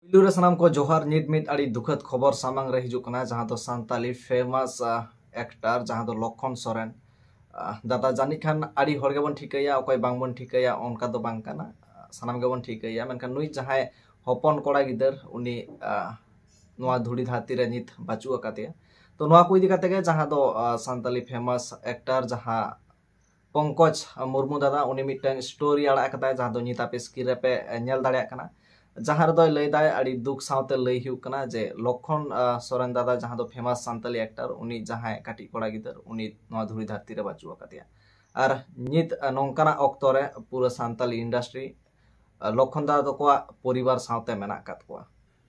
ᱯᱩᱭᱞᱩ ᱨᱮ ᱥᱟᱱᱟᱢ ᱠᱚ ᱡᱚᱦᱟᱨ ᱱᱤᱛ ᱢᱤᱫ ᱟᱹᱰᱤ ᱫᱩᱠᱷᱟᱹᱛ ᱠᱷᱚᱵᱚᱨ ᱥᱟᱢᱟᱝ ᱨᱮ ᱦᱤᱡᱩᱜ ᱠᱟᱱᱟ ᱡᱟᱦᱟᱸ ᱫᱚ ᱥᱟᱱᱛᱟᱞᱤ ᱯᱷᱮᱢᱟᱥ ᱮᱠᱴᱟᱨ ᱡᱟᱦᱟᱸ ᱫᱚ ᱞᱚᱠᱷᱚᱱ ᱥᱚᱨᱮᱱ ᱫᱟᱫᱟ ᱡᱟᱹᱱᱤᱡ ᱠᱷᱟᱱ ᱟᱹᱰᱤ ᱦᱚᱲ ᱜᱮᱵᱚᱱ ᱴᱷᱤᱠᱟᱹᱭᱟ ᱚᱠᱚᱭ ᱵᱟᱝᱵᱚᱱ ᱴᱷᱤᱠᱟᱹᱭᱟ ᱚᱱᱠᱟ ᱫᱚ ᱵᱟᱝ ᱠᱟᱱᱟ ᱥᱟᱱᱟᱢ ᱜᱮᱵᱚᱱ ᱴᱷᱤᱠᱟᱹᱭᱟ ᱢᱮᱱᱠᱷᱟᱱ ᱱᱩᱭ ᱡᱟᱦᱟᱸᱭ ᱦᱚᱯᱚᱱ ᱠᱚᱲᱟ ᱜᱤᱫᱟᱹᱨ ᱩᱱᱤ ᱱᱚᱣᱟ ᱫᱷᱩᱲᱤ ᱫᱷᱟᱹᱨᱛᱤ ᱨᱮ ᱱᱤᱛ ᱵᱟᱹᱪᱩᱜ ᱟᱠᱟᱫᱮᱭᱟ ᱛᱚ ᱱᱚᱣᱟ ᱠᱚ ᱤᱫᱤ ᱠᱟᱛᱮ ᱜᱮ ᱡᱟᱦᱟᱸ ᱫᱚ ᱥᱟᱱᱛᱟᱞᱤ ᱯᱷᱮᱢᱟᱥ ᱮᱠᱴᱟᱨ ᱡᱟᱦᱟᱸ ᱯᱚᱝᱠᱚᱡᱽ ᱢᱩᱨᱢᱩ ᱫᱟᱫᱟ ᱩᱱᱤ ᱢᱤᱫᱴᱟᱝ ᱥᱴᱳᱨᱤ ᱟᱲᱟᱜ ᱟᱠᱟᱫᱟᱭ ᱡᱟᱦᱟᱸ ᱫᱚ ᱱᱤᱛ ᱟᱯᱮ ᱥᱠᱨᱤᱱ ᱨᱮᱯᱮ ᱧᱮᱞ ᱫᱟᱲᱮᱭᱟᱜ ᱠᱟᱱᱟ ᱡᱟᱦᱟᱸ ᱨᱮᱫᱚᱭ ᱞᱟᱹᱭᱫᱟᱭ ᱟᱹᱰᱤ ᱫᱩᱠ ᱥᱟᱶᱛᱮ ᱞᱟᱹᱭ ᱦᱩᱭᱩᱜ ᱠᱟᱱᱟ ᱡᱮ ᱞᱚᱠᱷᱚᱱ ᱥᱚᱨᱮᱱ ᱫᱟᱫᱟ ᱡᱟᱦᱟᱸ ᱫᱚ ᱯᱷᱮᱢᱟᱥ ᱥᱟᱱᱛᱟᱞᱤ ᱮᱠᱴᱟᱨ ᱩᱱᱤ ᱡᱟᱦᱟᱸᱭ ᱠᱟᱹᱴᱤᱡ ᱠᱚᱲᱟ ᱜᱤᱫᱟᱹᱨ ᱩᱱᱤ ᱱᱚᱣᱟ ᱫᱷᱩᱲᱤ ᱫᱷᱟᱹᱨᱛᱤ ᱨᱮ ᱵᱟᱹᱪᱩᱜ ᱟᱠᱟᱫᱮᱭᱟ ᱟᱨ ᱱᱤᱛ ᱱᱚᱝᱠᱟᱱᱟᱜ ᱚᱠᱛᱚ ᱨᱮ ᱯᱩᱨᱟᱹ ᱥᱟᱱᱛᱟᱞᱤ ᱤᱱᱰᱟᱥᱴᱨᱤ ᱞᱚᱠᱷᱚᱱ ᱫᱟᱫᱟ ᱛᱟᱠᱚᱣᱟᱜ ᱯᱚᱨᱤᱵᱟᱨ ᱥᱟᱶᱛᱮ ᱢᱮᱱᱟᱜ ᱟᱠᱟᱫ ᱠᱚᱣᱟ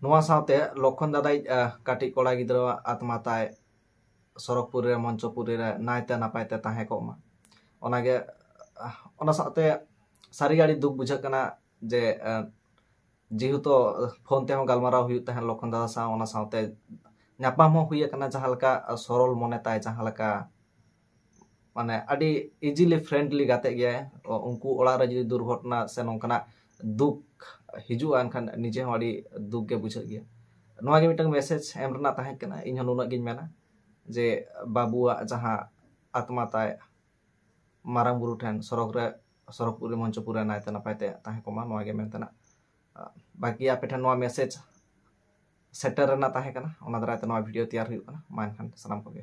ᱱᱚᱣᱟ ᱥᱟᱶᱛᱮ ᱞᱚᱠᱷᱚᱱ ᱫᱟᱫᱟᱭᱤᱡ ᱠᱟᱹᱴᱤᱡ ᱠᱚᱲᱟ ᱜᱤᱫᱽᱨᱟᱹᱣᱟᱜ ᱟᱛᱢᱟ ᱛᱟᱭ ᱥᱚᱨᱚᱜᱽᱯᱩᱨ ᱨᱮ ᱢᱚᱧᱪᱚᱯᱩᱨᱤ ᱨᱮ ᱱᱟᱭᱛᱮ ᱱᱟᱯᱟᱭ ᱛᱮ ᱛᱟᱦᱮᱸ ᱠᱚᱜ ᱢᱟ ᱚᱱᱟᱜᱮ ᱚᱱᱟ ᱥᱟᱶᱛᱮ ᱥᱟᱹᱨᱤᱜᱮ ᱟᱹᱰᱤ ᱫᱩᱠ ᱵᱩᱡᱷᱟᱹᱜ ᱠᱟᱱᱟ ᱡᱮ ᱡᱮᱦᱮᱛᱩ ᱯᱷᱳᱱ ᱛᱮᱦᱚᱸ ᱜᱟᱞᱢᱟᱨᱟᱣ ᱦᱩᱭᱩᱜ ᱛᱟᱦᱮᱸᱫ ᱞᱚᱠᱠᱷᱚᱱ ᱫᱟᱫᱟ ᱥᱟᱶ ᱚᱱᱟ ᱥᱟᱶᱛᱮ ᱧᱟᱯᱟᱢ ᱦᱚᱸ ᱦᱩᱭ ᱟᱠᱟᱱᱟ ᱡᱟᱦᱟᱸ ᱞᱮᱠᱟ ᱥᱚᱨᱚᱞ ᱢᱚᱱᱮ ᱛᱟᱭ ᱡᱟᱦᱟᱸ ᱞᱮᱠᱟ ᱢᱟᱱᱮ ᱟᱹᱰᱤ ᱤᱡᱤᱞᱤ ᱯᱷᱨᱮᱱᱰᱞᱤ ᱜᱟᱛᱮ ᱜᱮᱭᱟᱭ ᱩᱱᱠᱩ ᱚᱲᱟᱜ ᱨᱮ ᱡᱩᱫᱤ ᱫᱩᱨᱜᱷᱚᱴᱚᱱᱟ ᱥᱮ ᱱᱚᱝᱠᱟᱱᱟᱜ ᱫᱩᱠ ᱦᱤᱡᱩᱜᱼᱟ ᱮᱱᱠᱷᱟᱱ ᱱᱤᱡᱮ ᱦᱚᱸ ᱟᱹᱰᱤ ᱫᱩᱠ ᱜᱮ ᱵᱩᱡᱷᱟᱹᱜ ᱜᱮᱭᱟ ᱱᱚᱣᱟ ᱜᱮ ᱢᱤᱫᱴᱟᱝ ᱢᱮᱥᱮᱡᱽ ᱮᱢ ᱨᱮᱱᱟᱜ ᱛᱟᱦᱮᱸ ᱠᱟᱱᱟ ᱤᱧ ᱦᱚᱸ ᱱᱩᱱᱟᱹᱜ ᱜᱤᱧ ᱢᱮᱱᱟ ᱡᱮ ᱵᱟᱹᱵᱩᱣᱟᱜ ᱡᱟᱦᱟᱸ ᱟᱛᱢᱟ ᱛᱟᱭ ᱢᱟᱨᱟᱝ ᱵᱩᱨᱩ ᱴᱷᱮᱱ ᱥᱚᱨᱚᱜᱽ ᱨᱮ ᱥᱚᱨᱚᱜᱽᱯᱩᱨᱤ ᱢᱚᱧᱪᱚᱯᱩᱨ ᱨᱮ ᱱᱟᱭᱛᱮ ᱱᱟᱯᱟᱭ ᱛᱮ ᱛᱟᱦᱮᱸ ᱠᱚᱜ ᱢᱟ ᱱᱚᱣᱟ ᱜᱮ ᱢᱮᱱ ᱛᱮᱱᱟᱜ ᱵᱟᱹᱠᱤ ᱟᱯᱮ ᱴᱷᱮᱱ ᱱᱚᱣᱟ ᱢᱮᱥᱮᱡᱽ ᱥᱮᱴᱮᱨ ᱨᱮᱱᱟᱜ ᱛᱟᱦᱮᱸ ᱠᱟᱱᱟ ᱚᱱᱟ ᱫᱟᱨᱟᱭ ᱛᱮ ᱱᱚᱣᱟ ᱵᱷᱤᱰᱤᱭᱳ ᱛᱮᱭᱟᱨ ᱦᱩᱭᱩᱜ ᱠᱟᱱᱟ ᱢᱟ ᱮᱱᱠᱷᱟᱱ ᱥᱟᱱᱟᱢ ᱠᱚᱜᱮ